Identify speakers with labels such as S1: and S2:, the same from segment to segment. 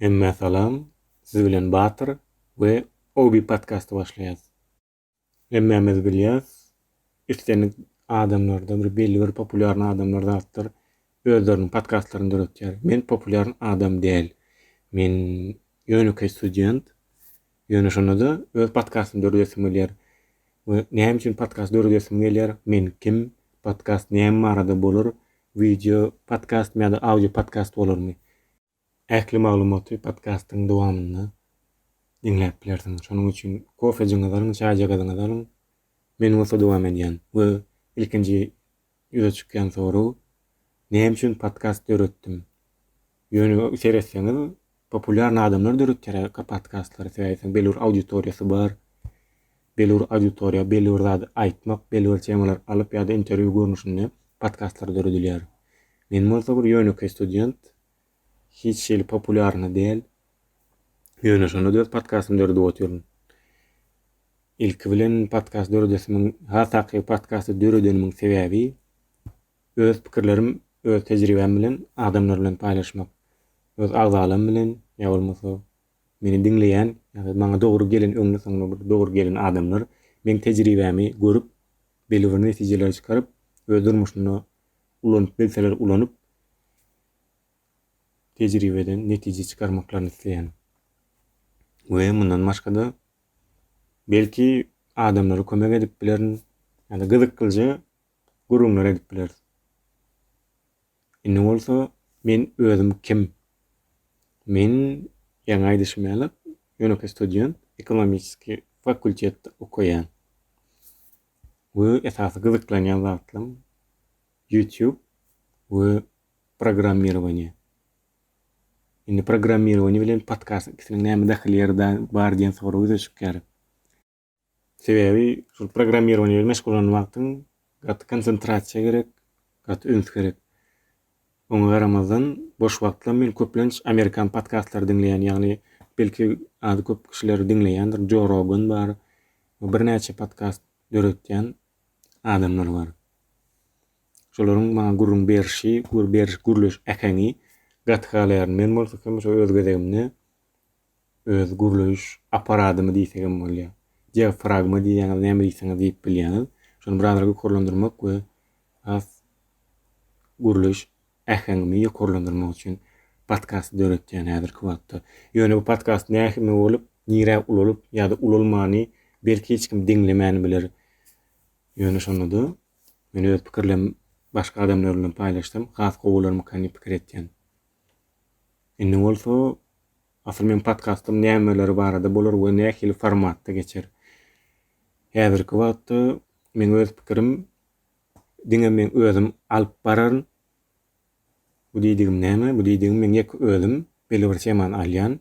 S1: Hemmä salam, siz bilen Batyr we Obi podkasty başlaýas. Hemmämiz bilýäs, islendik adamlarda bir belli bir populýarny adamlar zatdyr özleriniň podkastlaryny döretýär. Men populýarn adam däl. Men ýönekeý student. Ýöne şonda-da öz podkastymy döredesim gelýär. We näme üçin podkast döredesim gelýär? Men kim? Podkast näme barada bolar? Wideo podkastmy ýa-da audio podkast bolarmy? Ähli maglumaty podkastyň dowamynda diňläp bilersiňiz. Şonuň üçin kofejiňizi alyň, çaýjagazyňyzy alyň. Men bolsa dowam edýän we ilkinji ýüze çykýan sorag, Näme üçin podkast döretdim? Ýöne seretseňiz, populýarny adamlar döretýär-ä podkastlary, sebäbi belli bir auditoriýasy bar. Belibir auditoriýa, belibir zady aýtmak, belibir temalar alyp ýa-da interwýu görnüşinde podkastlar döredilýär. Men bolsa bir ýönekeý student, hiç şeýle populýarny däl. Ýöne şonda-da öz podkastymy döredip otyryn. Ilki bilen podkast döredesimiň, has takygy podkasty döredenimiň sebäbi öz pikirlerim, öz tejribäm bilen adamlar bilen paýlaşmak. Öz agzalarym bilen ýa bolmasa meni diňleýän ýa-da maňa dogry gelen öňli-soňly bir dogry gelen adamlar meň tejribämi görüp belli bir netijeleri çykaryp öz durmuşynda ulanyp bilseler ulanyp tejribeden netije çykarmaklaryny isleýän. We mundan başga-da belki adamlara kömek edip bilerin ýa-da gyzyklyja gürrüňler edip bileris. Indi bolsa men özüm kim? Men ýaňy aýdyşym ýaly ýönekeý student, ekonomiskiý fakultetde okaýan. We esasy gyzyklanýan zatlarym YouTube we programmirowaniýe. Indi programmirowaniýe bilen podkast ikisiniň näme dahylýeri bar diýen sorag ýüze çykýar. Sebäbi şol programmirowaniýe bilen meşgul bolan wagtyň gaty konsentrasiýa gerek, gaty üns gerek. Oňa garamazdan, boş wagtlam men köplenç amerikan podkastlary diňleýän, ýagny belki az köp kişiler diňleýändir, Joe Rogan bar, birnäçe podkast döretýän adamlar bar. Şolaryň maňa gürrüň berşi, gür beriş gürleş äheňi gaty halaýaryn. Men bolsa hem şo öz gezegimde öz gürleýiş apparadymy diýsegem bolýar. Diafragma diýýäňiz, näme diýseňiz diýip bilýäňiz. Şony biraz ýokarlandyrmak we has gürleýiş äheňimi ýokarlandyrmak üçin podkasty döretýän häzirki wagtda. Ýöne bu podkast nähili bolup, nirä ulalyp ýa-da ulalmany belki hiç kim diňlemän biler. Ýöne şonda-da men öz pikirlerimi başga adamlar bilen paýlaşsam has gowy bolarmyka diýip pikir etýän. Indi bolsa asyl meň podkastym nämeler barada bolar we nähili formatda geçer? Häzirki wagtda meň öz pikirim diňe meň özüm alyp bararyn. Bu diýdigim näme? Bu diýdigim meň ýeke özüm belli bir temany alýan.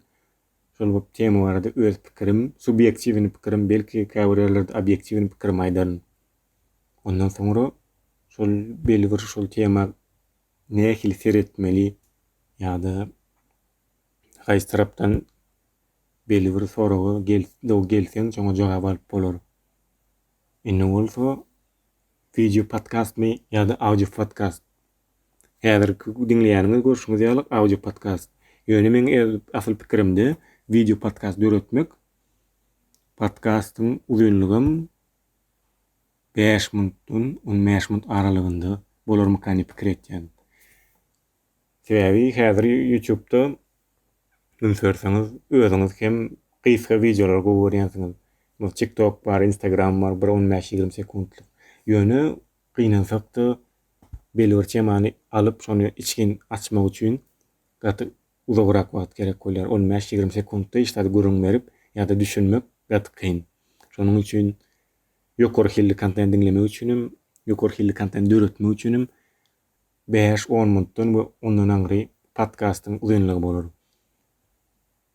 S1: Şol bir tema barada öz pikirim, subýektiwini pikirim, belki käbir ýerlerde obýektiwini pikirimi aýdaryn. Ondan soňra şol belli bir şol tema nähili seretmeli ýa-da haýsy tarapdan belli bir soraga gel-dow gelseň şoňa jogap alyp bolar. Indi bolsa wideo podkastmy ýa-da audio podkast? Häzirki diňleýäniňiz görşüňiz ýaly audio podkast. Ýöne meň öz asyl pikirimde wideo podkast döretmek podkastyň uzynlygam Bäş muntdan on bäş munt aralygynda bolarmykan diýip pikir etýän. Sebäbi häzir ýutubda üns berseňiz özüňiz hem gysga wideolary gowy görýänsiňiz. Bu tik tok bar, instagram bar bir on bäş ýigrimi sekuntlyk. Ýöne gynansakda belibir temany alyp şony içgin açmak üçin gaty uzagrak wagt gerek bolýar. On bäş ýigrimi sekuntda hiç zady gürrüň berip ýa-da düşünmek gaty kyn. Şonuň üçin Ýokary hilli kontent diňlemek üçin hem, ýokary hilli kontent döretmek üçin hem bäş, on minutdan we ondan aňry podkastyň uzynlygy bolar.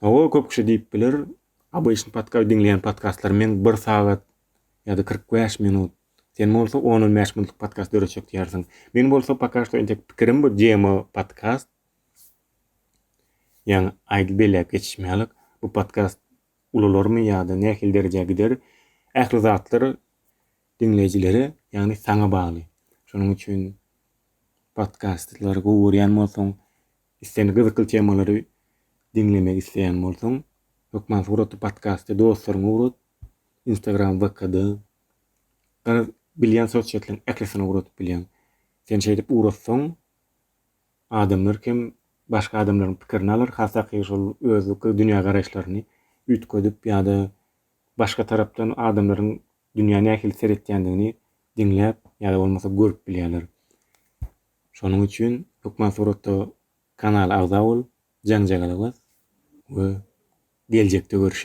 S1: Hawa, köp kişi diýip biler, Obычny podkast diňleýän podkastlar meň bir sagat ýa-da kyrk bäş minut. Sen bolsa on-on bäş minutlyk podkast döretjek diýýärsiň. Meň bolsa poka şto entek pikirim bu demo podkast. Ýaňy aýdyp belläp geçişmälik, bu podkast ulalarmy ýa-da nähili derejä gider, ähli zatlar diňleýjilere, ýagny saňa bagly. Şonuň üçin podkastlary gowy görýän bolsaň, islendik gyzykly temalary diňlemek isleýän bolsaň, hökman suraty podkasty dostlaryňa ugrat, Instagram, VK-da, garaz, bilýän sosýetlaryň ählisine ugradyp bilýäň. Sen şeýdip ugratsaň, adamlar kem başga adamlaryň pikirini alar, hasaky şol özüki dünýägaraýyşlaryny üýtgedip ýa-da başga tarapdan adamlaryň dünýä nähili seretýändigini diňläp ýa-da bolmasa görüp bilýärler. Şonuň üçin hökman suratda kanala agza bol, jaň-jagala bas we geljekde görüşen.